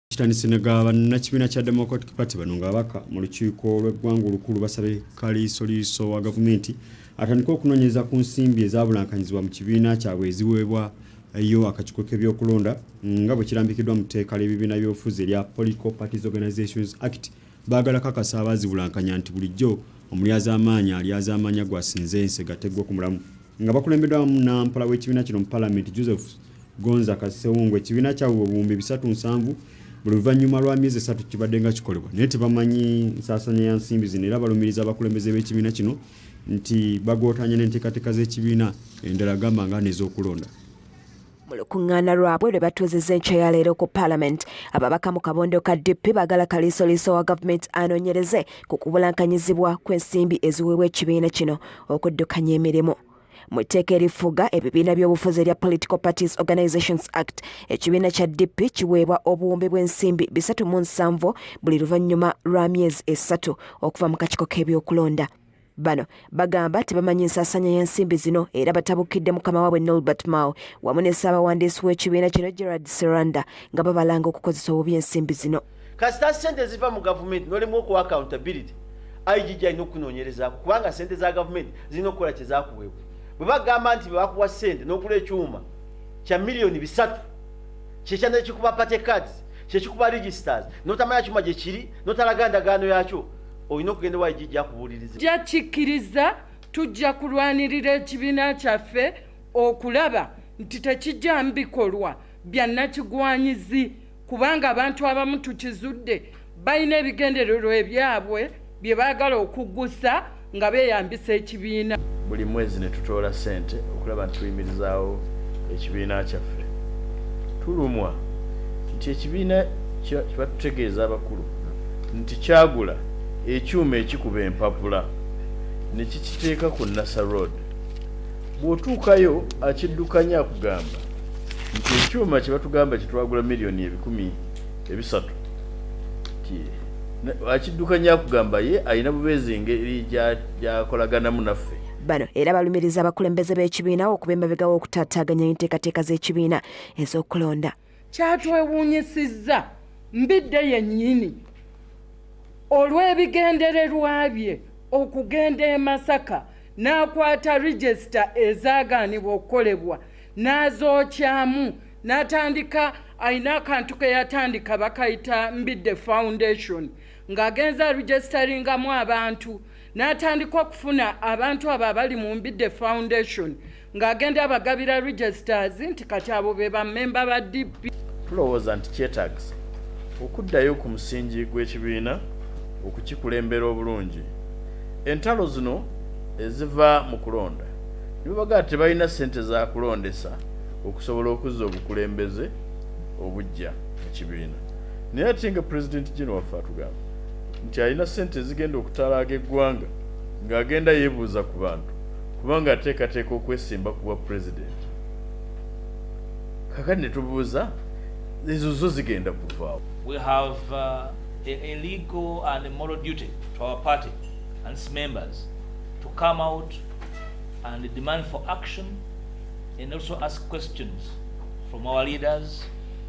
kitandise ne ga bannakibiina kya democratic party bano nga abaka mu lukiiko lw'eggwanga olukulu basabe kaliisoliiso wa gavumenti atandike okunoonyereza ku nsimbi ezabulankanyizibwa mu kibiina kyabwe eziweebwa yo akakiiko k'ebyokulonda nga bwe kirambikiddwa mu tteeka ly'ebibiina by'obufuzi erya political parties organizations act Baagala kakasa abaazibulankanya nti bulijjo omulyazaamaanya alyazaamaanya gw'asinze ensega teggwa ku mulamu. Nga bakulembeddwamu Nampala w'ekibiina kino mu Palamenti Joseph Gonza Kasewungu, ekibiina kyabwe bwe buwumbi bisatu nsanvu buli luvannyuma lwa myezi esatu kibaddenga kikolebwa naye tebamanyi nsaasanya ya nsimbi zino era balumiriza abakulembeze b'ekibiina kino nti bagootaanya n'enteekateeka z'ekibiina endala gamba nga n'ez'okulonda. mu lukuŋŋaana lwabwe lwe batuuzizza enkya ya leero ku palamenti ababaka mu kabondo ka dp bagala kaliisoliiso wa gavumenti anoonyereze ku kubulankanyizibwa kw'ensimbi eziweebwa ekibiina kino okuddukanya emirimu mu tteeka erifuga ebibiina by'obufuzi erya political parties organizations act ekibiina kya dp kiweebwa obuwumbi bw'ensimbi bisatu mu nsanvu buli luvannyuma lwa myezi esatu okuva mu kakiko k'ebyokulonda Bano bagamba tebamanyi nsaasaanya y'ensimbi zino era batabukidde mukama waabwe Nolbert Mao wamu ne ssaabawandiisi w'ekibiina kino Gerard Seranda nga babalanga okukozesa obubi ensimbi zino. Kasita ssente ziva mu gavumenti nolemwa okuwa accountability IGG alina okunoonyerezaako kubanga ssente za gavumenti zirina okukola kye zakuweebwa. Bwe bagamba nti bebakuwa ssente n'okula ekyuma kya miliyoni bisatu kyekya nekikuba party cards kyekikuba registers notamanya kyuma gye kiri notalaga ndagaano yakyo olina okugenda ewa ijiji akubuuliriza ja kikkiriza tujja kulwanirira ekibiina kyaffe okulaba nti tekijjamu bikolwa bya nakigwanyizi kubanga abantu abamu tukizudde balina ebigendererwa ebyabwe bye baagala okuggusa nga beeyambisa eki ekibiina buli mwezi ne tutoola ssente okulaba nti tuyimirizaawo ekibiina kyaffe tulumwa nti ekibiina kyebatutegeeza abakulu nti kyagula ekyuma ekikuba empapula ne kikiteeka ku nasa road bw'otuukayo akiddukanya akugamba nti ekyuma kye batugamba kyetwagula miliyoni ebikumi ebisatu akiddukanya akugamba ye alina bubeezi ngeri gyakolaganamu naffe bano era balumiriza abakulembeze b'ekibiina okuba emabega w'okutaataaganya enteekateeka z'ekibiina ez'okulonda kyatwewuunyisizza mbidde yennyini olw'ebigendererwa bye okugenda e masaka n'akwata regisita ezaagaanibwa okukolebwa n'azookyamu n'atandika alina akantu ke yatandika bakayita mbidde foundation ng'agenze arujesitaringamu abantu n'atandika okufuna abantu abo abali mu mbidde foundation ng'agenda abagabira registers nti kati abo be bammemba ba dp tulowooza nti kyetagisa okuddayo ku musingi gw'ekibiina okukikulembera obulungi entalo zino eziva mu kulonda nibabaga tebalina sente za kulondesa okusobola okuzza obukulembeze obujja mu kibiina Naye ate nga president gino waffe atugamba nti alina sente ezigenda okutalaaga eggwanga ng'agenda yebuuza ku bantu kubanga ateekateeka okwesimba ku bwa president kakati ne tubuuza ezo zo zigenda kuvaawo we have uh, a, a legal and a moral duty to our party and its members to come out and demand for action and also ask questions from our leaders